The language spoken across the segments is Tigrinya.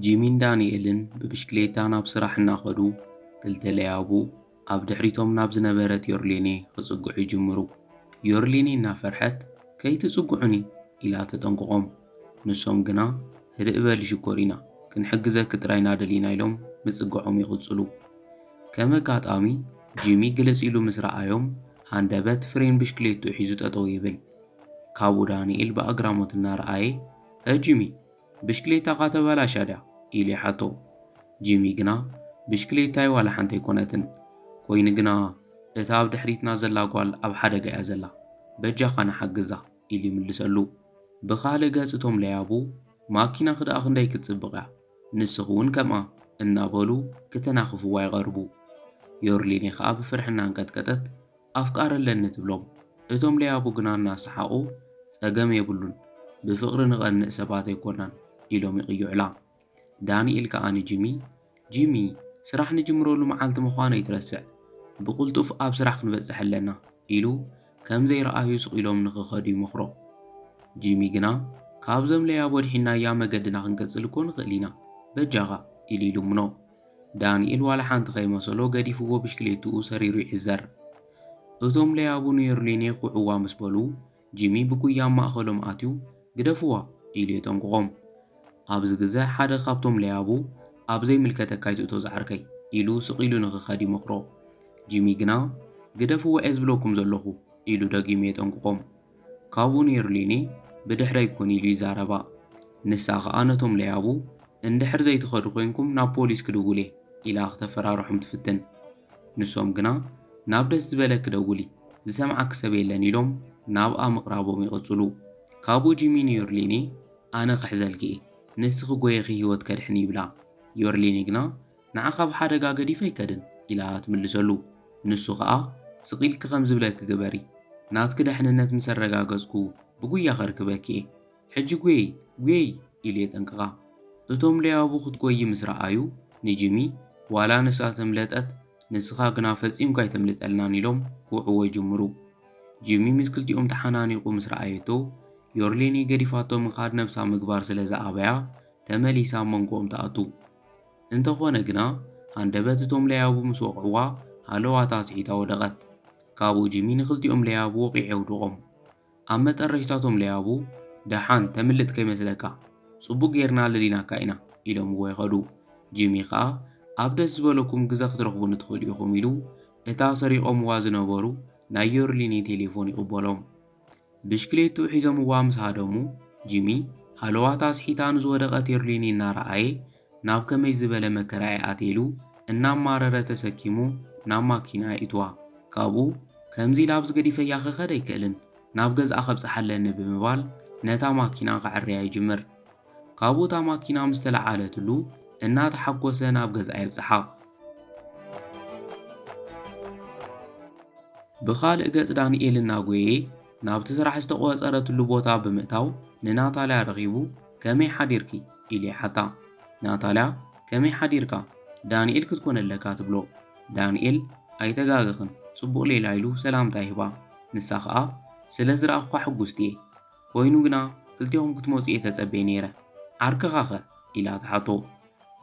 ጂሚን ዳንኤልን ብብሽክሌታ ናብ ስራሕ እናኸዱ ክልተ ለያቡ ኣብ ድሕሪቶም ናብ ዝነበረት ዮርሌኔ ክጽግዑ ይጅምሩ። ዮርሌኔ እናፈርሐት ከይትጽግዑኒ ኢላ ተጠንቅቖም። ንሶም ግና ህድእ በሊ ሽኮሪና ክንሕግዘኪ ጥራይ ናደሊና ኢሎም ምጽግዖም ይቕጽሉ። ከም ኣጋጣሚ ጂሚ ግልጽ ኢሉ ምስ ረኣዮም ሃንደበት ፍሬን ብሽክሌትኡ ሒዙ ጠጠው ይብል። ካብኡ ዳንኤል ብኣግራሞት እናረኣየ፣ እ ጂሚ፣ ብሽክሌታኻ ተበላሽያ ድያ? ኢሉ ይሓቶ። ጂሚ ግና፣ ብሽክሌታይ ዋላ ሓንቲ ኣይኮነትን። ኰይኑ ግና፣ እታ ኣብ ድሕሪትና ዘላ ጓል ኣብ ሓደጋ እያ ዘላ። በጃኻ ንሓግዛ፣ ኢሉ ይምልሰሉ። ብኻልእ ገጽ እቶም ለያቡ፣ ማኪናኺ ደኣ ክንደይ ክትጽብቕ እያ፣ ንስኺ'ውን ከምኣ፣ እናበሉ ክተናኽፍዋ ይቐርቡ። ዮርሊኔ ኸኣ ብፍርሒ እናኣንቀጥቀጠት፣ ኣፍቃሪ ኣለኒ ትብሎም እቶም ለያቡ ግና እናሰሓቑ ጸገም የብሉን ብፍቕሪ ንቐንእ ሰባት ኣይኮናን ኢሎም ይቕይዑላ። ዳኒኤል ከኣ ንጂሚ ጂሚ ስራሕ ንጅምረሉ መዓልቲ ምዃኑ ኣይትረስዕ ብቕልጡፍ ኣብ ስራሕ ክንበጽሕ ኣለና ኢሉ ከም ዘይረኣዩ ስቕ ኢሎም ንኽኸዱ ይመኽሮ። ጂሚ ግና ካብዞም ለያቡ ኣድሒንናያ መገድና ክንቅጽል እኮ ንኽእል ኢና በጃኻ ኢሉ ይልምኖ። ዳንኤል ዋላ ሓንቲ ከይመሰሎ ገዲፍዎ ብሽክሌትኡ ሰሪሩ ይዕዘር። እቶም ለያቡ ንዮርሊኔ ኩዕዋ ምስ በሉ፣ ጂሚ ብጉያ ኣብ ማእኸሎም ኣትዩ ግደፍዋ! ኢሉ የጠንቅቖም። ኣብዚ ግዘ ሓደ ካብቶም ለያቡ ኣብ ዘይምልከተካ ኣይትእቶ ዝዓርከይ! ኢሉ ስቕ ኢሉ ንክኸድ ይመኽሮ። ጂሚ ግና ግደፍዎ እየ ዝብለኩም ዘለኹ! ኢሉ ደጊሙ የጠንቅቖም። ካብኡ ነይሩ ሊኒ ብድሕረይ ኩን ኢሉ ይዛረባ። ንሳ ከኣ ነቶም ለያቡ እንድሕር ዘይትኸዱ ኮይንኩም ናብ ፖሊስ ክድውል እየ ኢላ ክተፈራርሖም ትፍትን። ንሶም ግና ናብ ደስ ዝበለኪ ደውሊ ዝሰምዓኪ ሰብ የለን ኢሎም ናብኣ ምቕራቦም ይቕጽሉ። ካብኡ ጂሚ ንዮርሊኒ ኣነ ክሕዘልኪ እየ ንስኺ ጎየኺ ህይወት ከድሕን ይብላ። ዮርሊኒ ግና ንዓኻ ኣብ ሓደጋ ገዲፈ ኣይከድን ኢላ ትምልሰሉ። ንሱ ከኣ ስቕ ኢልኪ ከም ዝብለኪ ግበሪ፣ ናትኪ ደሕንነት ምስ ኣረጋገጽኩ ብጉያ ከርክበኪ እየ፣ ሕጂ ጉየዪ ጉየዪ ኢሉ የጠንቅቓ። እቶም ለያቡ ክትጎዪ ምስ ረኣዩ ንጂሚ ዋላ ንሳ ተምለጠት ንስኻ ግና ፈጺምካ ኣይተምልጠልናን ኢሎም ክውዕዎ ይጅምሩ። ጂሚ ምስ ክልቲኦም ተሓናኒቑ ምስ ረኣየቶ ዮርሌኒ ገዲፋቶ ምኻድ ነብሳ ምግባር ስለ ዝኣበያ ተመሊሳ ኣብ መንጎኦም ትኣቱ። እንተኾነ ግና ሃንደበት እቶም ለያቡ ምስ ወቕዕዋ ሃለዋታ ኣስዒታ ወደቐት። ካብኡ ጂሚ ንኽልቲኦም ለያቡ ወቒዑ የውድቖም። ኣብ መጠረሽታ እቶም ለያቡ ደሓን ተምልጥ ከይመስለካ ጽቡቕ ጌርና ኣለሊናካ ኢና ኢሎምዎ ይኸዱ። ጂሚ ከኣ ኣብ ደስ ዝበለኩም ግዘ ክትረኽቡኒ ትኽእሉ ኢኹም ኢሉ እታ ሰሪቖምዋ ዝነበሩ ናይ ዮርሊኒ ቴሌፎን ይቕበሎም። ብሽክሌትኡ ሒዞምዋ ምስ ሃደሙ፣ ጂሚ፣ ሃለዋታ ኣስሒታ ንዝወደቐት የርሊኒ እናረኣየ፣ ናብ ከመይ ዝበለ መከራ'የ ኣትየ ኢሉ እናማረረ ተሰኪሙ ናብ ማኪና የእትዋ። ካብኡ፣ ከምዚ ኢለ ኣብዚ ገዲፈያ ክኸድ ኣይክእልን፣ ናብ ገዝኣ ከብጽሓ ኣለኒ ብምባል ነታ ማኪና ከዐርያ ይጅምር። ካብኡ እታ ማኪና ምስ ተለዓለትሉ እናተሓጎሰ ናብ ገዝኣ የብጽሓ። ብኻልእ ገጽ ዳንኤል እናጎየ ናብቲ ስራሕ ዝተቖጸረትሉ ቦታ ብምእታው ንናታልያ ረኺቡ ከመይ ሓዲርኪ? ኢሉ ይሓታ። ናታልያ ከመይ ሓዲርካ? ዳንኤል ክትኮን ኣለካ ትብሎ። ዳንኤል ኣይተጋገኽን ጽቡቕ ሌላ ኢሉ ሰላምታ ይህባ። ንሳ ከኣ ስለ ዝረኣኹካ ሕጉስቲ'የ። ኮይኑ ግና ክልቴኹም ክትመጹ እየ ተጸብየ ነይረ፣ ዓርክኻኸ? ኢላ ትሓቶ።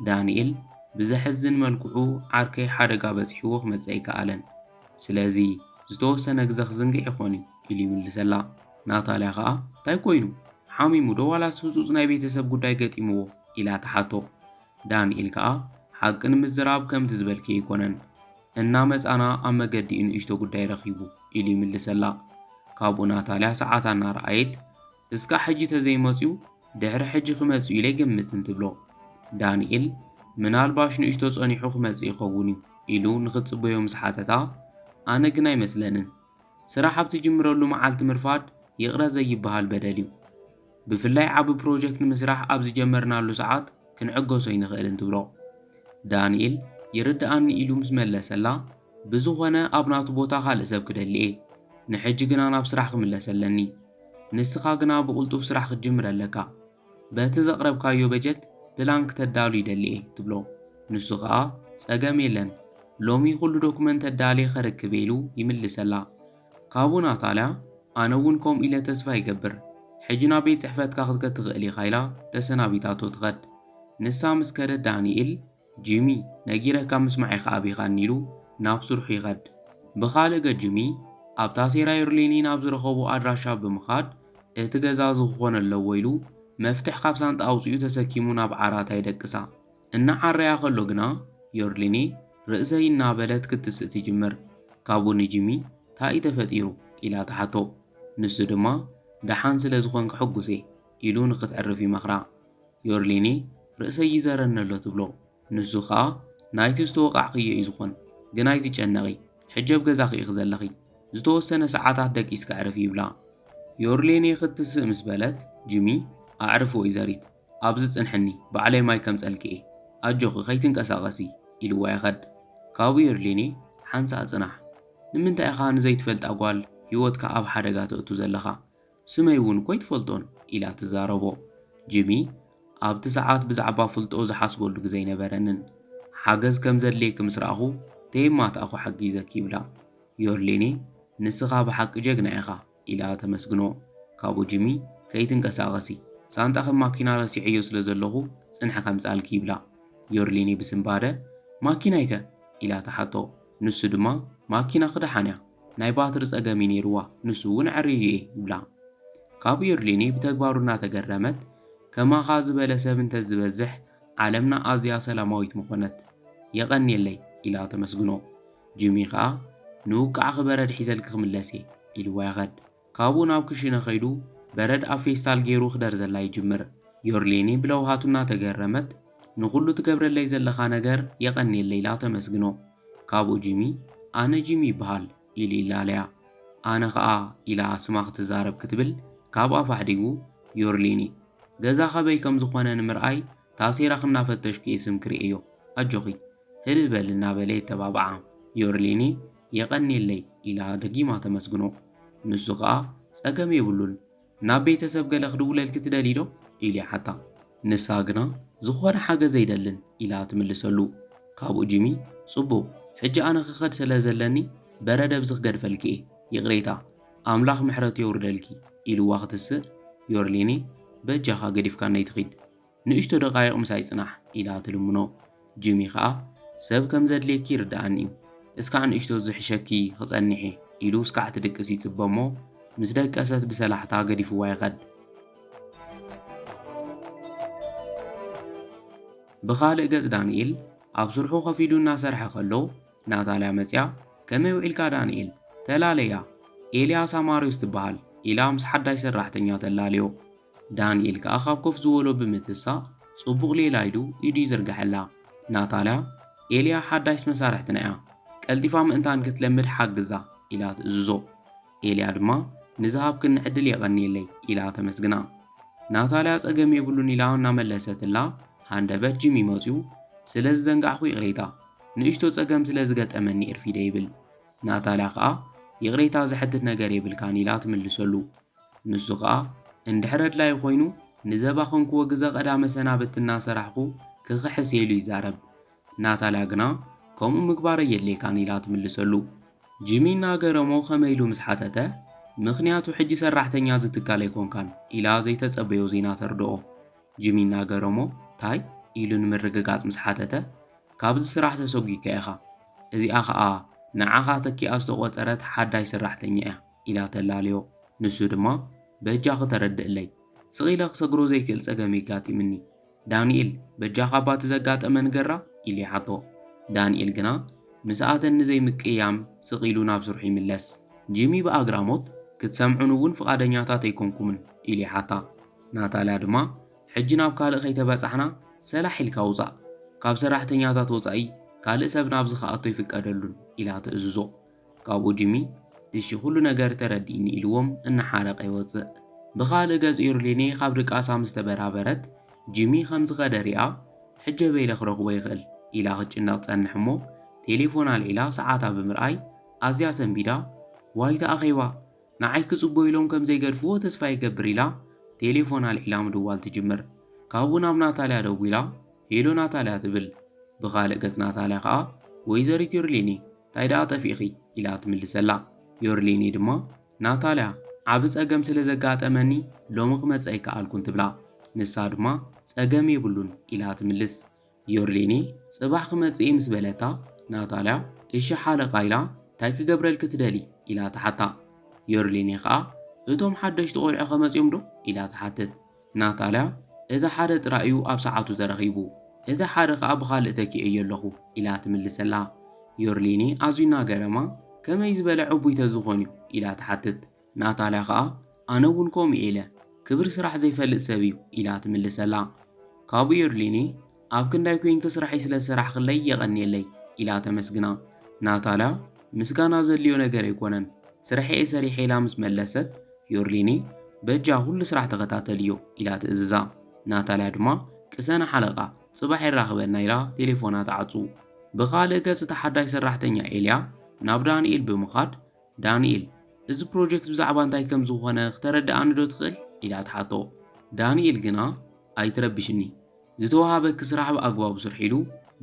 ዳንኤል ብዘሕዝን መልክዑ ዓርከይ ሓደጋ በጺሕዎ ክመጽእ ኣይከኣለን፣ ስለዚ ዝተወሰነ ግዘ ክዝንግዕ ይኾን እዩ ኢሉ ይምልሰላ። ናታልያ ከኣ እንታይ ኮይኑ? ሓሚሙዶ ዋላስ ህጹጽ ናይ ቤተሰብ ጉዳይ ገጢምዎ? ኢላ ትሓቶ። ዳንኤል ከኣ ሓቂ ንምዝራብ ከምቲ ዝበልክዮ ኣይኮነን፣ እናመጻና ኣብ መገዲ'ዩ ንእሽቶ ጉዳይ ረኺቡ ኢሉ ይምልሰላ። ካብኡ ናታልያ ሰዓታ እናረኣየት እስካዕ ሕጂ ተዘይመጽዩ ድሕሪ ሕጂ ክመጽእ'ዩ ኢለ ኣይገምትን ትብሎ። ዳንኤል ምናልባሽ ንእሽቶ ጸኒሑ ክመጽእ ይኸውን'ዩ ኢሉ ንኽትጽበዮ ምስ ሓተታ ኣነ ግን ኣይመስለንን፣ ስራሕ ኣብ ትጅምረሉ መዓልቲ ምርፋድ ይቕረ ዘይብሃል በደል'ዩ። ብፍላይ ዓቢ ፕሮጀክት ንምስራሕ ኣብ ዝጀመርናሉ ሰዓት ክንዕገሶ ኣይንኽእልን ትብሎ። ዳኒኤል ይርድኣኒ ኢሉ ምስ መለሰላ፣ ብዝኾነ ኣብ ናቱ ቦታ ካልእ ሰብ ክደሊ'የ። ንሕጂ ግና ናብ ስራሕ ክምለስ ኣለኒ። ንስኻ ግና ብቕልጡፍ ስራሕ ክትጅምር ኣለካ። በቲ ዘቕረብካዮ በጀት ፕላን ክተዳሉ ይደሊ'የ ትብሎ። ንሱ ከኣ ጸገም የለን ሎሚ ኩሉ ዶኩመንት ኣዳልየ ከርክብ'የ ኢሉ ይምልሰላ። ካብኡ ናታልያ ኣነ'ውን ከምኡ ኢለ ተስፋ ይገብር ሕጂ ናብ ቤት ጽሕፈትካ ክትከድ ትኽእል ኢኻ ኢላ ተሰናቢታቶ ትኸድ። ንሳ ምስ ከደት ዳኒኤል፣ ጂሚ ነጊረካ ምስማዕ ኢኻ ኣቢኻኒ ኢሉ ናብ ስርሑ ይኸድ። ብኻልእ ገፅ ጂሚ ኣብ ታሴራየር ሌኒን ኣብ ዝረኸቦ ኣድራሻ ብምኻድ እቲ ገዛ እዚ ክኾን ኣለዎ ኢሉ መፍትሕ ካብ ሳንጣ ኣውፂኡ ተሰኪሙ ናብ ዓራታ ይደቅሳ። እናዓረያ ከሎ ግና ዮርሊኔ ርእሰይ እናበለት ክትስእ ትጅምር። ካብኡ ንጂሚ ታይ እዩ ተፈጢሩ? ኢላ ትሓቶ። ንሱ ድማ ደሓን ስለዝኾንክ ሕጉስ እየ። ኢሉ ንኽትዕርፍ ይመኽራ። ዮርሊኒ ርእሰይ ይዘረኒ ኣሎ ትብሎ። ንሱ ኸኣ ናይቲ ዝተወቓዕክዮ እዩ ዝዀን፣ ግን ኣይትጨነቒ፣ ሕጂ ኣብ ገዛኺ ኢኺ ዘለኺ፣ ዝተወሰነ ሰዓታት ደቂስኪ ኣዕርፊ ይብላ። ዮርሊኒ ክትስእ ምስ በለት፣ ጂሚ፣ ኣዕርፊ ወይዘሪት፣ ኣብዚ ጽንሕኒ፣ ባዕለይ ማይ ከምጸልኪ እየ፣ ኣጆኺ ከይትንቀሳቐሲ፣ ኢልዋ ይኸድ። ካብኡ ዮርሊኒ ሓንሳእ ጽናሕ፣ ንምንታይ ኢኻ ንዘይትፈልጣ ጓል ህይወትካ ኣብ ሓደጋ ተእቱ ዘለኻ? ስመይ እውን እኮ ኣይትፈልጦን ኢላ ትዛረቦ። ጂሚ፣ ኣብቲ ሰዓት ብዛዕባ ፍልጦ ዝሓስበሉ ግዜ ኣይነበረንን። ሓገዝ ከም ዘድልየኪ ምስ ረኣኹ ተየማታእኩ ሓጊዘኪ ይብላ። ዮርሌኔ፣ ንስኻ ብሓቂ ጀግና ኢኻ ኢላ ተመስግኖ። ካብኡ ጂሚ፣ ከይትንቀሳቐሲ፣ ሳንጣኺ ኣብ ማኪና ረሲዐዮ ስለ ዘለኹ ጽንሒ ከምጽኣልኪ ይብላ። ዮርሌኔ ብስንባደ፣ ማኪናይከ? ኢላ ትሓቶ። ንሱ ድማ ማኪናኺ ደሓን እያ፣ ናይ ባትሪ ጸገም እዩ ነይሩዋ፣ ንሱ እውን ዕርዩ እየ ይብላ። ካብ ዩርሊኒ ብተግባሩ እናተገረመት፣ ከማኻ ዝበለ ሰብ እንተዝበዝሕ ዓለምና ኣዝያ ሰላማዊት ምኾነት። የቐንየለይ! ኢላ ተመስግኖ። ጂሚ ከኣ ንውቃዕኺ በረድ ሒዘልኪ ክምለስ እየ ኢሉዋ ይኸድ። ካብኡ ናብ ክሽነ ከይዱ በረድ ኣብ ፌስታል ገይሩ ክደርዘላ ይጅምር። ዮርሌኒ ብለውሃቱ እናተገረመት፣ ንኹሉ ትገብረለይ ዘለኻ ነገር የቐንየለይ ኢላ ተመስግኖ። ካብኡ ጂሚ፣ ኣነ ጂሚ ይበሃል፣ ኢሉ ይላለያ። ኣነ ከኣ፣ ኢላ ስማ ክትዛረብ ክትብል ካብ ኣፋ ኣሕዲጉ፣ ዮርሌኒ፣ ገዛ ከበይ ከም ዝኾነ ንምርኣይ ታሴራኺ እናፈተሽኩ'የ ስምኪ ርእየዮ፣ ኣጆኺ ህድእ በሊ፣ እናበለ የተባብዓ። ዮርሌኒ፣ የቐንየለይ ኢላ ደጊማ ተመስግኖ። ንሱ ከኣ ጸገም የብሉን፣ ናብ ቤተሰብ ገለ ክድውለልኪ ትደልዪዶ? ኢሉ ይሓታ። ንሳ ግና ዝኾነ ሓገዝ ኣይደልን ኢላ ትምልሰሉ። ካብኡ ጂሚ ጽቡቕ፣ ሕጂ ኣነ ክኸድ ስለ ዘለኒ በረድ ኣብዚ ክገድፈልኪ'የ፣ ይቕሬታ፣ ኣምላኽ ምሕረቱ የውርደልኪ ኢሉዋ ክትስእ፣ ዮርሌኔ በጃኻ ገዲፍካነይ ትኺድ፣ ንእሽቶ ደቓይቕ ምሳይ ጽናሕ ኢላ ትልምኖ። ጂሚ ከኣ ሰብ ከም ዘድልየኪ ይርድኣኒ'ዩ፣ እስካዕ ንእሽቶ ዝሕሸኪ ክጸንሕ'የ ኢሉ እስካዕ ትድቅስ ይጽበ'ሞ ምስ ደቀሰት ብሰላሕታ ገዲፍዋ ይኸድ። ብኻልእ ገጽ ዳንኤል ኣብ ስርሑ ኮፍ ኢሉ እናሰርሐ ከሎ ናታልያ መጺኣ ከመይ ውዒልካ ዳንኤል? ተላለያ ኤልያ ሳማርዮስ ትበሃል ኢላ ምስ ሓዳሽ ሰራሕተኛ ተላልዮ። ዳንኤል ከኣ ካብ ኮፍ ዝበሎ ብምትሳእ ጽቡቕ ሌላ ኢሉ ኢዱ ይዝርግሐላ። ናታልያ፣ ኤልያ ሓዳሽ መሳርሕትና'ያ፣ ቀልጢፋ ምእንታን ክትለምድ ሓግዛ ኢላ ትእዝዞ። ኤልያ ድማ ንዝሃብክኒ ዕድል የቐንየለይ ኢላ ተመስግና። ናታልያ ጸገም የብሉን ኢላ እናመለሰትላ ሃንደበት ጂሚ መጽዩ ስለ ዝዘንጋዕኩ ይቕሬታ፣ ንእሽቶ ጸገም ስለ ዝገጠመኒ እርፊደ ይብል። ናታልያ ከኣ ይቕሬታ ዘሕትት ነገር የብልካን ኢላ ትምልሰሉ። ንሱ ከኣ እንድሕር ኣድላይ ኮይኑ ንዘባኽን ክወግዘ ቀዳመ ሰናብቲ እናሰራሕኩ ክኽሕስ ኢሉ ይዛረብ። ናታልያ ግና ከምኡ ምግባር ኣየድልየካን ኢላ ትምልሰሉ። ጂሚ እናገረሞ ከመይ ኢሉ ምስ ሓተተ ምኽንያቱ ሕጂ ሰራሕተኛ እዚ ትካል ኣይኮንካን ኢላ ዘይተጸበዮ ዜና ተርድኦ። ጂሚ እናገረሞ ታይ? ኢሉ ንምርግጋጽ ምስ ሓተተ ካብዚ ስራሕ ተሰጒግካ ኢኻ። እዚኣ ከኣ ንዓኻ ተኪኣ ዝተቖጸረት ሓዳሽ ሰራሕተኛ እያ። ኢላ ተላልዮ። ንሱ ድማ፣ በጃኺ ተረድእለይ። ስቕ ኢለ ክሰግሮ ዘይክእል ጸገም የጋጢምኒ። ዳንኤል፣ በጃኻ ባቲ ዘጋጠመ ንገራ? ኢሉ ይሓቶ። ዳንኤል ግና ምስኣተን ንዘይምቅይያም ስቕ ኢሉ ናብ ስርሑ ይምለስ። ጂሚ ብኣግራሞት፣ ክትሰምዑኒ እውን ፍቓደኛታት ኣይኮንኩምን? ኢሉ ይሓታ። ናታልያ ድማ፣ ሕጂ ናብ ካልእ ከይተበጻሕና ሰላሕ ኢልካ ውጻእ። ካብ ሰራሕተኛታት ወጻኢ ካልእ ሰብ ናብዚ ክኣቱ ኣይፍቀደሉን፣ ኢላ ትእዝዞ። ካብኡ ጂሚ እሺ ኩሉ ነገር ተረዲእኒ ኢልዎም እናሓረቐ ይወጽእ። ብኻልእ ገጽ ዩርሊኔ ካብ ድቃሳ ምስ ተበራበረት ጂሚ ከም ዝኸደ ሪኣ ሕጀ በይለ ክረኽቦ ይኽእል ኢላ ክትጭነቕ ትጸንሕ እሞ ቴሌፎን ኣልዒላ ሰዓታ ብምርኣይ ኣዝያ ሰንቢዳ ዋይታ ኣኼባ ንዓይ ክጽቦ ኢሎም ከም ዘይገድፍዎ ተስፋ ይገብር ኢላ ቴሌፎን ኣልዒላ ምድዋል ትጅምር። ካብኡ ናብ ናታልያ ደዊላ ሄሎ ናታልያ ትብል። ብኻልእ ገጽ ናታልያ ከኣ ወይዘሪት ዩርሊኔ ታይ ደኣ ጠፊእኺ? ኢላ ትምልሰላ። ዮርሌኔ ድማ ናታልያ ዓቢ ጸገም ስለ ዘጋጠመኒ ሎሚ ክመጽእ ኣይከኣልኩን ትብላ። ንሳ ድማ ጸገም የብሉን ኢላ ትምልስ። ዮርሌኔ ጽባሕ ክመጽእ እየ ምስ በለታ ናታልያ እሺ ሓለቓ ኢላ ታይ ክገብረልኪ ትደልይ? ኢላ ትሓታ። ዮርሌኔ ከኣ እቶም ሓደሽቲ ቆልዑ ከመጽዮም ዶ? ኢላ ትሓትት። ናታልያ፣ እቲ ሓደ ጥራይ'ዩ ኣብ ሰዓቱ ተረኺቡ፣ እቲ ሓደ ኸኣ ብኻልእ ተኪኤዮ ኣለኹ፣ ኢላ ትምልሰላ። ዮርሊኒ ኣዝዩ እናገረማ፣ ከመይ ዝበለ ዕቡይ ተዝኾን'ዩ? ኢላ ትሓትት። ናታልያ ኸኣ፣ ኣነ'ውን ከምኡ'የ ኢለ፣ ክብሪ ስራሕ ዘይፈልጥ ሰብ'ዩ፣ ኢላ ትምልሰላ። ካብኡ ዮርሊኒ፣ ኣብ ክንዳይ ኮይንኪ ስራሕይ ስለ ዝሰራሕክለይ የቐንየለይ ኢላ ተመስግና። ናታልያ ምስጋና ዘድልዮ ነገር ኣይኮነን ስርሐይ'የ ሰሪሐ ኢላ ምስ መለሰት ዮርሊኒ በጃ ኩሉ ስራሕ ተኸታተልዮ ኢላ ትእዝዛ። ናታልያ ድማ ቅሰነ ሓለቓ ጽባሕ የራኽበና ኢላ ቴሌፎና ትዓጹ። ብኻልእ ገጽ እታ ሓዳሽ ሰራሕተኛ ኤልያ ናብ ዳኒኤል ብምኻድ ዳኒኤል፣ እዚ ፕሮጀክት ብዛዕባ እንታይ ከም ዝኾነ ክተረድኣኒዶ ትኽእል? ኢላ ትሓቶ። ዳኒኤል ግና፣ ኣይትረብሽኒ። ዝተወሃበኪ ስራሕ ብኣግባቡ ስርሒ ኢሉ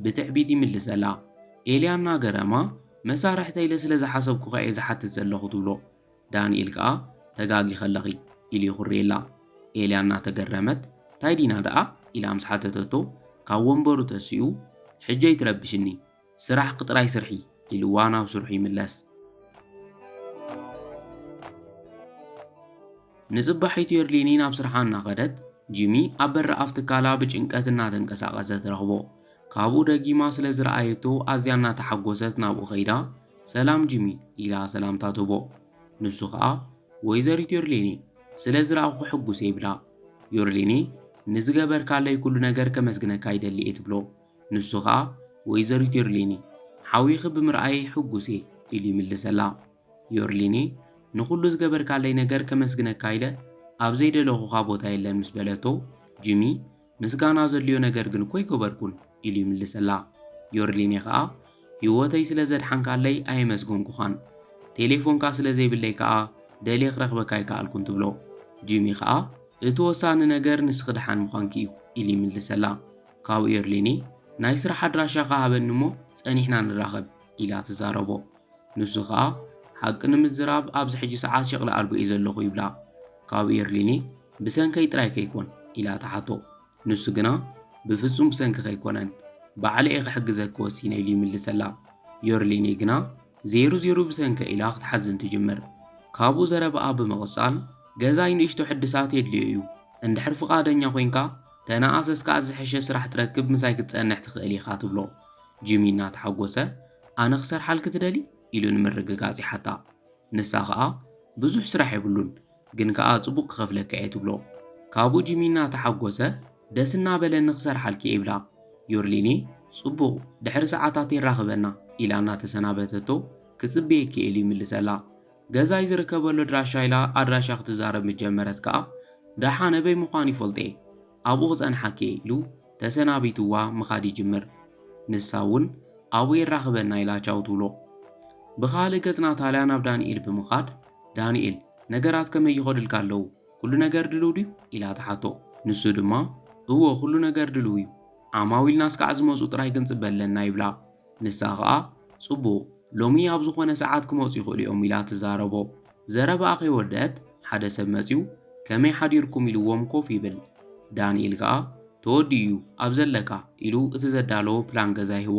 ብትዕቢት ይምልሰላ። ኤልያ እናገረማ፣ መሳርሕተይ ኢለ ስለ ዝሓሰብኩ ከ እየ ዝሓትት ዘለኹ ትብሎ። ዳኒኤል ከኣ፣ ተጋጊኺ ኣለኺ። ኢሉ የኹርየላ። ኤልያ እናተገረመት፣ እንታይ ዲና ደኣ? ኢላ ምስ ሓተተቶ፣ ካብ ወንበሩ ተሲኡ፣ ሕጂ ኣይትረብሽኒ። ስራሕኪ ጥራይ ስርሒ ኢልዋ ናብ ስርሑ ይምለስ። ንጽባሒቱ የርሊኒ ናብ ስርሓ እናኸደት፣ ጂሚ ኣብ በሪ ኣፍ ትካላ ብጭንቀት እናተንቀሳቐሰ ትረኽቦ። ካብኡ ደጊማ ስለ ዝረኣየቶ ኣዝያ እናተሓጎሰት ናብኡ ከይዳ፣ ሰላም ጂሚ ኢላ ሰላምታ ትህቦ። ንሱ ከኣ ወይዘሪት ዮርሊኒ ስለ ዝረኣኹ ሕጉስ እየ ይብላ። ዮርሊኒ ንዝገበርካለይ ኩሉ ነገር ከመስግነካ ይደሊ እየ ትብሎ። ንሱ ኸኣ፣ ወይዘሪት ዮርሊኒ፣ ሓውኺ ብምርኣየይ ሕጉስ እየ፣ ኢሉ ይምልሰላ። ዮርሊኒ፣ ንኹሉ ዝገበርካለይ ነገር ከመስግነካ ኢለ ኣብ ዘይደለኹኻ ቦታ የለን ምስ በለቶ፣ ጂሚ፣ ምስጋና ዘድልዮ ነገር ግን እኮ ኣይገበርኩን፣ ኢሉ ይምልሰላ። ዮርሊኒ ኸኣ፣ ህይወተይ ስለ ዘድሓንካለይ ኣየመስገንኩኻን፣ ቴሌፎንካ ስለ ዘይብለይ ከኣ ደልየ ክረኽበካ ኣይከኣልኩን፣ ትብሎ። ጂሚ ኸኣ፣ እቲ ወሳኒ ነገር ንስኺ ደሓን ምዃንኪ እዩ፣ ኢሉ ይምልሰላ። ካብኡ ኤርሊኒ፣ ናይ ስራሕ ኣድራሻኻ ሃበኒ እሞ ጸኒሕና ንራኸብ ኢላ ትዛረቦ። ንሱ ከኣ፣ ሓቂ ንምዝራብ ኣብዚ ሕጂ ሰዓት ሸቕሊ ኣልቦ እየ ዘለኹ ይብላ። ካብኡ ኤርሊኒ፣ ብሰንከይ ጥራይ ከይኮን? ኢላ ትሓቶ። ንሱ ግና፣ ብፍጹም ብሰንክኺ ኣይኮነን፣ ባዕለ እየ ክሕግዘኪ ወሲነ ኢሉ ይምልሰላ። ዮርሊኒ ግና፣ ዜሩ ዜሩ ብሰንከይ ኢላ ክትሓዝን ትጅምር። ካብኡ ዘረባኣ ብምቕጻል፣ ገዛይ ንእሽቶ ሕድሳት የድልዮ እዩ፣ እንድሕር ፍቓደኛ ኮይንካ ተነኣሰስ ከኣ ዝሕሸ ስራሕ ትረክብ ምሳይ ክትጸንሕ ትኽእል ኢኻ ትብሎ። ጂሚ እናተሓጎሰ ኣነ ክሰርሓልኪ ትደልዪ? ኢሉ ንምርግጋጽ ይሓታ። ንሳ ከኣ ብዙሕ ስራሕ የብሉን ግን ከኣ ጽቡቕ ክኸፍለካ እየ ትብሎ። ካብኡ ጂሚ እናተሓጎሰ ደስ እናበለኒ ክሰርሓልኪ እየ ይብላ። ዮርሊኔ ጽቡቕ ድሕሪ ሰዓታት የራኽበና ኢላ እናተሰናበተቶ ክጽበየኪ እየ ኢሉ ይምልሰላ። ገዛይ ዝርከበሉ ኣድራሻ ኢላ ኣድራሻ ክትዛረብ ምስ ጀመረት ከኣ ደሓ ነበይ ምዃን ይፈልጦ'የ ኣብኡ ክጸንሓኪ'የ ኢሉ ተሰናቢትዋ ምኻድ ይጅምር። ንሳ ውን ኣብኡ የራኽበና ኢላ ቻው ትብሎ። ብኻልእ ገጽ ናታልያ ናብ ዳኒኤል ብምኻድ ዳኒኤል ነገራት ከመይ ይኸዱልካ ኣለዉ ኩሉ ነገር ድልው ድዩ? ኢላ ትሓቶ። ንሱ ድማ እወ ኩሉ ነገር ድልው እዩ ዓማዊልናስ ከኣ ዝመጹ ጥራይ ክንጽበ ኣለና ይብላ። ንሳ ኸኣ፣ ጽቡቕ፣ ሎሚ ኣብ ዝዀነ ሰዓት ክመጹ ይኽእሉ እዮም ኢላ ትዛረቦ። ዘረባኣ ከይወደኣት ሓደ ሰብ መጺኡ ከመይ ሓዲርኩም ኢልዎም ኮፍ ይብል። ዳኒኤል ከኣ ተወዲኡ እዩ ኣብ ዘለካ ኢሉ እቲ ዘዳለዎ ፕላን ገዛ ይህቦ።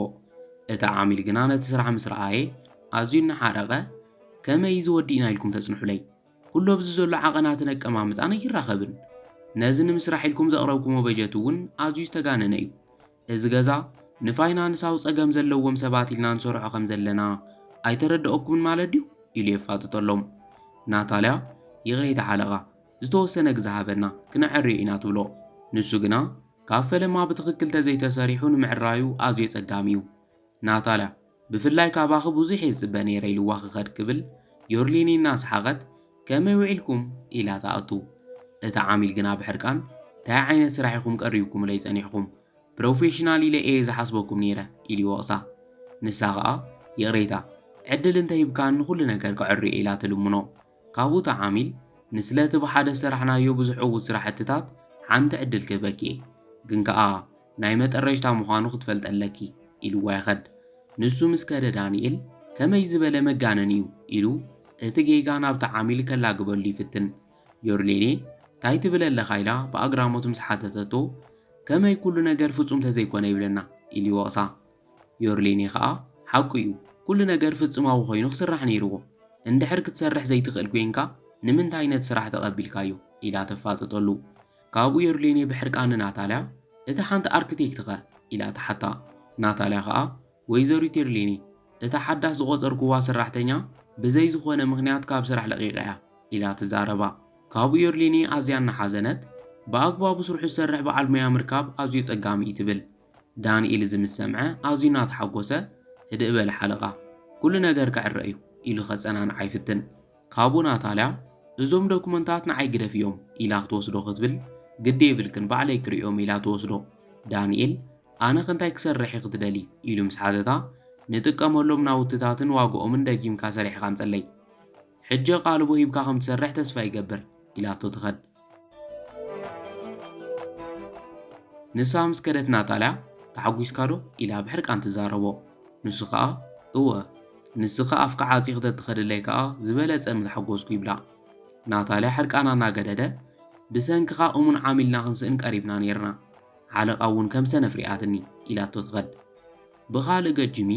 እቲ ዓሚል ግና ነቲ ስራሕ ምስ ረኣየ ኣዝዩ እናሓረቐ ከመይ እዚ ወዲእና ኢልኩም ተጽንሑለይ? ኩሉ ኣብዚ ዘሎ ዓቐናትን ኣቀማምጣን ኣይራኸብን። ነዚ ንምስራሕ ኢልኩም ዘቕረብኩሞ በጀት እውን ኣዝዩ ዝተጋነነ እዩ። እዚ ገዛ ንፋይናንሳዊ ጸገም ዘለዎም ሰባት ኢልና ንሰርሖ ከም ዘለና ኣይተረደኣኩምን ማለት ድዩ? ኢሉ የፋጥጠሎም። ናታልያ፣ ይቕሬታ ሓለቓ፣ ዝተወሰነ ግዘ ሃበና፣ ክነዐርዮ ኢና ትብሎ። ንሱ ግና፣ ካብ ፈለማ ብትኽክል ተዘይተሰሪሑ ንምዕራዩ ኣዝዩ ኣጸጋሚ'ዩ። ናታልያ፣ ብፍላይ ካባኺ ብዙሕ'የ ዝጽበ ነይረ ኢልዋ ክኸድ ክብል፣ ዮርሊኒ እናሰሓቐት፣ ከመይ ውዒልኩም? ኢላ ትኣቱ። እቲ ዓሚል ግና ብሕርቃን፣ ታይ ዓይነት ስራሕ ኢኹም ቀሪብኩምለይ ጸኒሕኩም? ፕሮፌሽናል ኢለ እየ ዝሓስበኩም ነይረ ኢሉ ይወቕሳ። ንሳ ከኣ፣ ይቕሬታ፣ ዕድል እንተሂብካኒ ኩሉ ነገር ከዐርዮ ኢላ ትልምኖ። ካብኡ ተዓሚል ንስለቲ ብሓደ ዝሰራሕናዮ ብዙሕ ዕዉት ስራሕትታት ሓንቲ ዕድል ክህበኪ እየ ግን ከኣ ናይ መጠረሽታ ምዃኑ ክትፈልጢ ኣለኪ ኢልዋ ይኸድ ንሱ ምስ ከደ ዳኒኤል ከመይ ዝበለ መጋነን እዩ ኢሉ እቲ ጌጋ ናብቲ ዓሚል ከላግበሉ ይፍትን ዮርሌኔ ታይ ትብል ኣለኻ ኢላ ብኣግራሞት ምስ ሓተተቶ ከመይ ኩሉ ነገር ፍጹም ተዘይኮነ ይብለና ኢሉ ይወቕሳ ዮርሊኒ ከኣ ሓቁ እዩ ኩሉ ነገር ፍጽማዊ ኮይኑ ክስራሕ ነይርዎ እንድሕር ክትሰርሕ ዘይትኽእል ኮይንካ ንምንታይ ነቲ ስራሕ ተቐቢልካዮ ኢላ ተፋጥጠሉ ካብኡ ዮርሊኒ ብሕርቃን ንናታልያ እታ ሓንቲ ኣርክቴክት ከ ኢላ ትሓታ ናታልያ ከኣ ወይዘሪት ዮርሊኒ እታ ሓዳስ ዝቖጸርክዋ ሰራሕተኛ ብዘይ ዝኾነ ምኽንያት ካብ ስራሕ ለቒቓ እያ ኢላ ትዛረባ ካብኡ ዮርሊኒ ኣዝያ እናሓዘነት ብኣግባቡ ስርሑ ዝሰርሕ በዓል ሞያ ምርካብ ኣዝዩ ጸጋሚ እዩ ትብል ዳንኤል እዚ ምስ ሰምዐ ኣዝዩ እናተሓጎሰ፣ ህድእ በል ሓለቓ፣ ኩሉ ነገር ክዕረ እዩ ኢሉ ከጸናንዓ ይፍትን። ካብኡ ናታልያ፣ እዞም ዶክመንታት ንዓይ ግደፍ እዮም ኢላ ክትወስዶ ክትብል፣ ግዲ የብልክን ባዕለይ ክርእዮም ኢላ ትወስዶ። ዳንኤል፣ ኣነኸ እንታይ ክሰርሕ ኢኺ ትደልዪ ኢሉ ምስ ሓተታ፣ ንጥቀመሎም ናውትታትን ዋግኦምን ደጊምካ ሰሪሕኻ ኣምጸለይ። ሕጂ ኣቓልቦ ሂብካ ከም ትሰርሕ ተስፋ ይገብር ኢላቶ ትኸድ። ንሳ ምስ ከደት ናጣልያ ተሓጒስካዶ? ኢላ ብሕርቃን ትዛረቦ። ንሱ ከኣ እወ፣ ንስኺ ኣፍኪ ዓጺኺ ተትኸድለይ ከኣ ዝበለጸ ምተሓጎስኩ ይብላ። ናታልያ ሕርቃና እናገደደ ብሰንክኻ እሙን ዓሚልና ክንስእን ቀሪብና ኔርና፣ ሓለቓ እውን ከም ሰነፍ ሪኣትኒ ኢላቶ ትኸድ። ብኻልእ ገፅ ጂሚ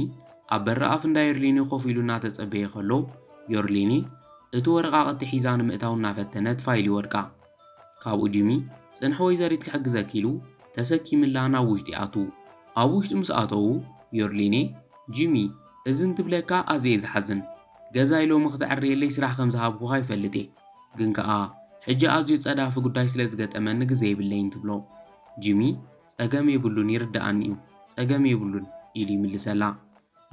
ኣብ በረኣፍ እንዳ ዮርሊኒ ኮፍ ኢሉ እናተፀበየ ከሎ ዮርሊኒ እቲ ወረቓቕቲ ሒዛ ንምእታው እናፈተነት ፋይል ይወድቃ። ካብኡ ጂሚ ፅንሒ ወይዘሪት ክሕግዘኪ ኢሉ ተሰኪምላ ናብ ውሽጢ ይኣትው። ኣብ ውሽጢ ምስ ኣተዉ ዮርሊኒ ጂሚ እዚ እንትብለካ ኣዝየ ዝሓዝን ገዛይ ሎሚ ክተዕርየለይ ስራሕ ከም ዝሃብኩኻ ይፈልጥየ ግን ከዓ ሕጂ ኣዝዩ ፀዳፊ ጉዳይ ስለ ዝገጠመኒ ግዘ የብለይን ትብሎ። ጂሚ ጸገም የብሉን ይርድኣኒ እዩ ጸገም የብሉን ኢሉ ይምልሰላ።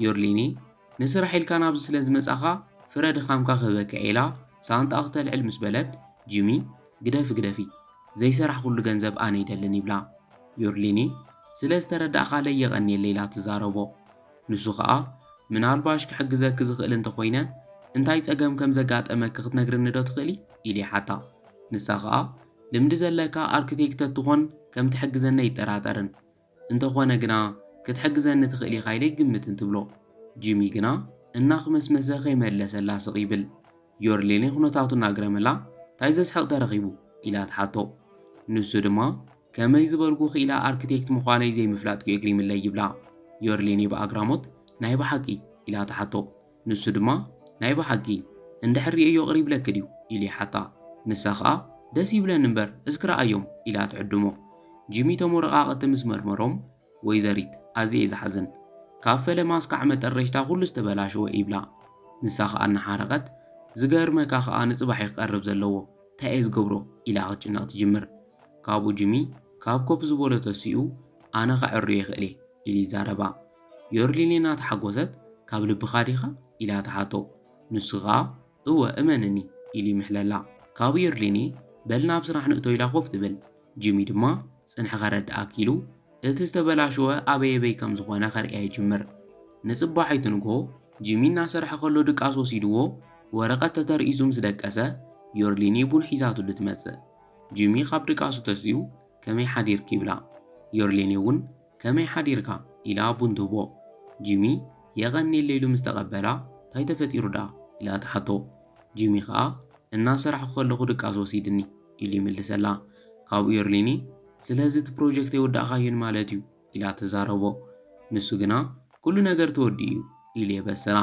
ዮርሊኒ ንስራሕ ኢልካ ናብዚ ስለ ዝመጻኻ ፍረ ድኻምካ ክህበካ ኢላ ሳንጣኣ ክተልዕል ምስ በለት ጂሚ ግደፊ ግደፊ ዘይሰራሕኹሉ ገንዘብ ኣነ ይደልን ይብላ። ዮርሊኒ ስለ ዝተረዳእካለይ የቐንየለይ ኢላ ትዛረቦ። ንሱ ከኣ ምናልባሽ ክሕግዘኪ ዝኽእል እንተ ኾይነ እንታይ ጸገም ከም ዘጋጠመኪ ክትነግርኒ ዶ ትኽእሊ ኢሉ ይሓታ። ንሳ ከኣ ልምዲ ዘለካ ኣርክቴክ ተትኾን ከም ትሕግዘኒ ኣይጠራጠርን። እንተኾነ ግና ክትሕግዘኒ ትኽእል ኢኻ ኢለ ኣይግምትን ትብሎ። ጂሚ ግና እናኽመስመሰ ከይመለሰላ ስቕ ይብል። ዮርሌኒ ኩነታቱ እናኣግረመላ ታይ ዘስሕቕ ተረኺቡ? ኢላ ትሓቶ። ንሱ ድማ ከመይ ዝበልኩ ክኢላ ኣርክቴክት ምዃነይ ዘይምፍላጥኪ እግሪምለይ ይብላ። ዮርሌኒ ብኣግራሞት ናይ ብሓቂ? ኢላ ትሓቶ። ንሱ ድማ ናይ ብሓቂ እንድሕር ሪኤዮ ቅር ይብለኪ ድዩ ኢሉ ይሓታ ንሳ ከኣ ደስ ይብለኒ እምበር እስኪ ረኣዮም ኢላ ትዕድሞ ጂሚ ቶም ወረቃቅቲ ምስ መርመሮም ወይዘሪት ኣዝየ እየ ዝሓዝን ካብ ፈለማ እስካዕ መጠረሽታ ኩሉ ዝተበላሸወ እዩ ይብላ ንሳ ከኣ እናሓረቀት ዝገርመካ ከኣ ንጽባሕ እዩ ክቀርብ ዘለዎ ታይ እየ ዝገብሮ ኢላ ክትጭነቅ ትጅምር ካብኡ ጂሚ ካብ ኮፍ ዝበሎ ተሲኡ ኣነ ከዐርዮ ይክእል እየ ኢሉ ይዛረባ ዮርዲኒ እናተሓጎሰት፣ ካብ ልብኻ ዲኻ? ኢላ ትሓቶ። ንሱ ከኣ እወ እመንኒ ኢሉ ይምሕለላ። ካብኡ ዮርዲኒ በል ናብ ስራሕ ንእቶ ኢላ ኮፍ ትብል። ጂሚ ድማ ጽንሒ ከረድኣኪ ኢሉ እቲ ዝተበላሸወ ኣበየበይ ከም ዝኾነ ከርእያ ይጅምር። ንጽባሒቱ ንግሆ ጂሚ እናሰርሐ ከሎ ድቃስ ወሲድዎ ወረቐት ተተርኢሱ ምስ ደቀሰ ዮርዲኒ ቡን ሒዛትሉ ትመጽእ። ጂሚ ካብ ድቃሱ ተሲኡ ከመይ ሓዲርኪ ይብላ። ዮርዲኒ እውን ከመይ ሓዲርካ? ኢላ ቡን ትህቦ። ጂሚ የቐንየለይ ኢሉ ምስ ተቐበላ፣ ታይ ተፈጢሩ ደኣ? ኢላ ትሓቶ። ጂሚ ከኣ እናሰራሕኩ ከለኹ ድቃስ ወሲድኒ ኢሉ ይምልሰላ። ካብኡ የርሊኒ ስለዚ እቲ ፕሮጀክት ኣይወዳእካዮን ማለት እዩ ኢላ ትዛረቦ። ንሱ ግና ኩሉ ነገር ተወዲኡ እዩ ኢሉ የበስራ።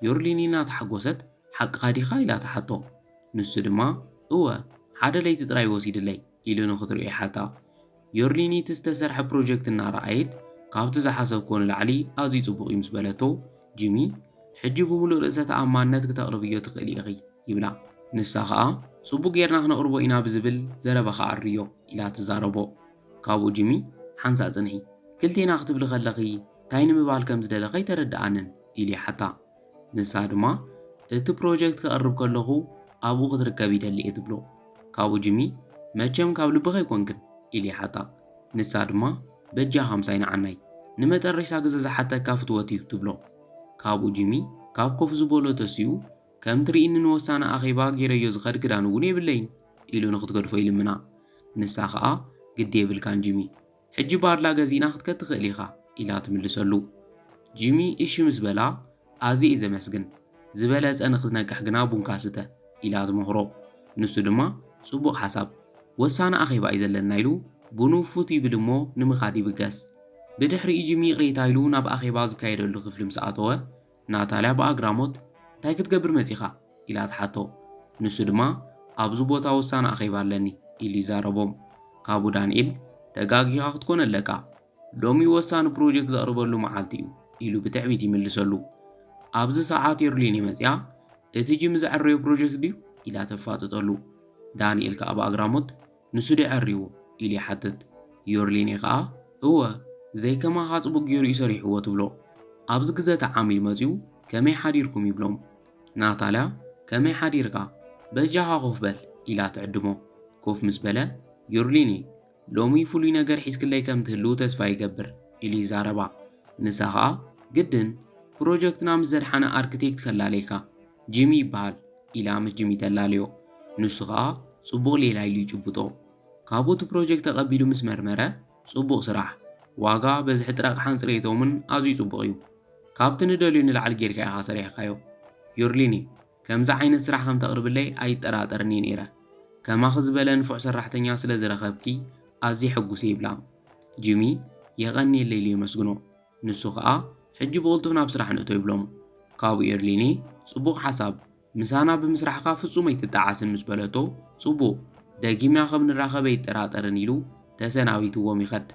ዮርሊኒ እናተሓጎሰት ሓቅኻ ዲኻ? ኢላ ትሓቶ። ንሱ ድማ እወ ሓደ ለይቲ ጥራይ ወሲድለይ። ኢሉ ንክትሪኦ ይሓታ። ዮርዲ ኒቲ ዝተሰርሐ ፕሮጀክት እናረኣየት፣ ካብቲ ዝሓሰብክዎ ንላዕሊ ኣዝዩ ጽቡቕ እዩ ምስ በለቶ፣ ጂሚ፣ ሕጂ ብምሉእ ርእሰ ተኣማንነት ክተቕርብዮ ትኽእሊ ኢኺ፣ ይብላ። ንሳ ኸኣ፣ ጽቡቕ ጌርና ክነቕርቦ ኢና ብዝብል ዘረባ ክዓርዮ፣ ኢላ ትዛረቦ። ካብኡ ጂሚ፣ ሓንሳእ ጽንሒ፣ ክልቴና ክትብሊ ከለኺ ታይ ንምባል ከም ዝደለኺ ኣይተረድኣንን፣ ኢሉ ይሓታ። ንሳ ድማ እቲ ፕሮጀክት ከቕርብ ከለኹ ኣብኡ ክትርከብ ይደሊ እየ ትብሎ። ካብኡ ጂሚ መቸም ካብ ልብኺ ኣይኮንክን ኢሉ ይሓታ። ንሳ ድማ በጃኻ ምሳይ ንዓናይ ንመጠረሽታ ግዘ ዝሓተካ ፍትወት እዩ ትብሎ። ካብኡ ጂሚ ካብ ኮፍ ዝበሎ ተሲኡ ከም ትርኢኒ ንወሳኒ ኣኼባ ጌረዮ ዝኸድ ክዳን እውን የብለይን ኢሉ ንክትገድፎ ይልምና። ንሳ ከኣ ግዲ የብልካን ጂሚ ሕጂ ባርላ ገዚእና ክትከድ ትኽእል ኢኻ ኢላ ትምልሰሉ። ጂሚ እሺ ምስ በላ ኣዝየ'የ ዘመስግን፣ ዝበለጸ ንኽትነቅሕ ግና ቡንካ ስተ ኢላ ትመኽሮ። ንሱ ድማ ጽቡቕ ሓሳብ፣ ወሳኒ ኣኼባ'ዩ ዘለና ኢሉ ቡኑ ፉት ይብል እሞ ንምኻድ ይብገስ። ብድሕሪኡ ጂሚ ይቕሬታ ኢሉ ናብ ኣኼባ ዝካየደሉ ክፍሊ ምስ ኣተወ ናታልያ ብኣግራሞት፣ እንታይ ክትገብር መጺኻ? ኢላ ትሓቶ። ንሱ ድማ፣ ኣብዚ ቦታ ወሳኒ ኣኼባ ኣለኒ፣ ኢሉ ይዛረቦም። ካብኡ ዳንኤል፣ ተጋጊኻ ክትኮን ኣለካ። ሎሚ ወሳኒ ፕሮጀክት ዘቕርበሉ መዓልቲ'ዩ፣ ኢሉ ብትዕቢት ይምልሰሉ። ኣብዚ ሰዓት የርሊኒ መጺኣ፣ እቲ ጂሚ ዘዐረዮ ፕሮጀክት ድዩ? ኢላ ተፋጥጠሉ። ዳንኤል ከኣ ብኣግራሞት፣ ንሱ ድዩ ዐርዩ? ኢሉ ይሓትት። ዮርሊኒ ከኣ እወ ዘይከማኻ ጽቡቅ ጌሩ እዩ ሰሪሕዎ ትብሎ። ኣብዚ ግዘ እቲ ዓሚል መጺኡ ከመይ ሓዲርኩም ይብሎም። ናታልያ ከመይ ሓዲርካ በጃኻ ኮፍ በል ኢላ ትዕድሞ። ኮፍ ምስ በለ ዮርሊኒ ሎሚ ፍሉይ ነገር ሒዝክለይ ከም ትህልው ተስፋ ይገብር ኢሉ ይዛረባ። ንሳ ከኣ ግድን ፕሮጀክትና ምስ ዘድሓነ ኣርክቴክት ከላለይካ ጂሚ ይበሃል ኢላ ምስ ጂሚ ተላለዮ። ንሱ ከኣ ጽቡቕ ሌላ ኢሉ ይጭብጦ። ካብኡ እቲ ፕሮጀክት ተቐቢሉ ምስ መርመረ፣ ጽቡቕ ስራሕ፣ ዋጋ፣ በዝሒ ጥረቕሓን ጽሬቶምን ኣዝዩ ጽቡቕ እዩ። ካብቲ ንደልዮ ንላዕሊ ጌርካ ኢኻ ሰሪሕካዮ። ዩርሊኒ፣ ከምዚ ዓይነት ስራሕ ከም ተቕርብለይ ኣይጠራጠርን እየ ነይረ። ከማኺ ዝበለ ንፉዕ ሰራሕተኛ ስለ ዝረኸብኪ ኣዝየ ሕጉስ እየ ይብላ። ጂሚ የቐንየለይ ኢሉ የመስግኖ። ንሱ ከኣ ሕጂ ብቕልጡፍ ናብ ስራሕ ንእቶ ይብሎም። ካብኡ ኤርሊኒ ጽቡቕ ሓሳብ፣ ምሳና ብምስራሕካ ፍጹም ኣይትጠዓስን ምስ በለቶ ጽቡቕ፣ ደጊምና ከም ንራኸብ ኣይጠራጠርን ኢሉ ተሰናቢትዎም ይኸድ።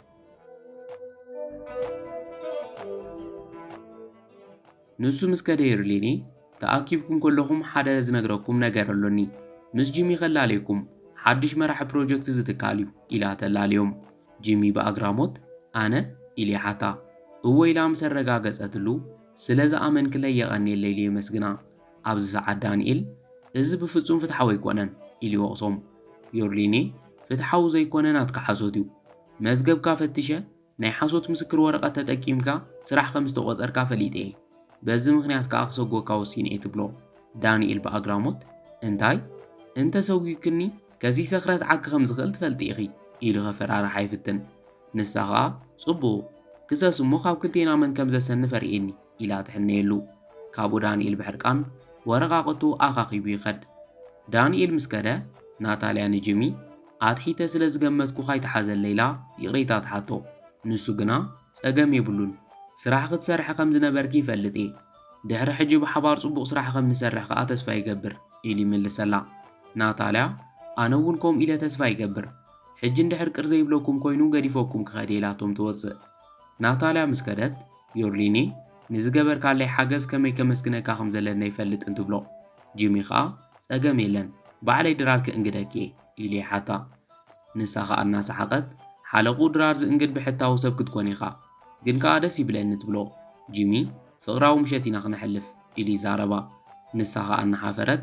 ንሱ ምስ ከደ ይርሊኒ ተኣኪብኩም ከለኹም ሓደ ዝነግረኩም ነገር ኣሎኒ ምስ ጂሚ ከላልየኩም ሓድሽ መራሒ ፕሮጀክት እዚ ትካል እዩ ኢላ ተላልዮም ጂሚ ብኣግራሞት ኣነ ኢሉ ይሓታ እወ ኢላ ምስ ኣረጋገጸትሉ ስለ ዝኣመንክለይ የቐንየለይ ኢሉ የመስግና ኣብዚ ሰዓት ዳንኤል እዚ ብፍጹም ፍትሓዊ ኣይኮነን ኢሉ ይወቕሶም ዮርሊኒ ፍትሓዊ ዘይኮነ ናትካ ሓሶት እዩ መዝገብካ ፈትሸ ናይ ሓሶት ምስክር ወረቐት ተጠቂምካ ስራሕ ከም ዝተቖጸርካ ፈሊጠ እየ። በዚ ምኽንያት ከኣ ክሰጕገካ ወሲነ እየ ትብሎ ዳንኤል ብኣግራሞት። እንታይ? እንተ ሰጒግክኒ ከሲሰ ክረትዓኪ ከም ዝኽእል ትፈልጢ ኢኺ ኢሉ ከፈራርሓ ይፍትን። ንሳ ከኣ ጽቡቕ፣ ክሰስ እሞ ካብ ክልቴና መን ከም ዘሰንፍ ኣርእየኒ። ኢላ ትሕነየሉ። ካብኡ ዳንኤል ብሕርቃን ወረቓቕቱ ኣኻኺቡ ይኸድ። ዳንኤል ምስ ከደ፣ ናታልያ ንጂሚ፣ ኣትሒተ ስለ ዝገመትኩኻ ኣይትሓዘለይ ኢላ ይቕሬታ ትሓቶ። ንሱ ግና፣ ጸገም የብሉን፣ ስራሕ ክትሰርሒ ከም ዝነበርኪ ይፈልጥ እየ። ድሕሪ ሕጂ ብሓባር ጽቡቕ ስራሕ ከም ንሰርሕ ከኣ ተስፋ ይገብር፣ ኢሉ ይምልሰላ። ናታልያ፣ ኣነ እውን ከምኡ ኢለ ተስፋ ይገብር። ሕጂ እንድሕር ቅር ዘይብለኩም ኰይኑ ገዲፈኩም ክኸድ እየ ኢላቶም ትወጽእ። ናታልያ ምስ ከደት፣ ዮርሊኒ፣ ንዝገበርካለይ ሓገዝ ከመይ ከመስግነካ ከም ዘለኒ ኣይፈልጥን ትብሎ። ጂሚ ኸኣ፣ ጸገም የለን፣ ባዕለይ ድራር ክእንግደኪ'የ፣ ኢሉ ይሓታ። ንሳ ኸኣ እናሰሓቐት፣ ሓለቕኡ ድራር ዝእንግድ ብሕታዊ ሰብ ክትኮን ኢኻ። ግን ከኣ ደስ ይብለኒ፣ ትብሎ። ጂሚ፣ ፍቕራዊ ምሸት ኢና ክነሕልፍ፣ ኢሉ ይዛረባ። ንሳ ኸኣ እናሓፈረት፣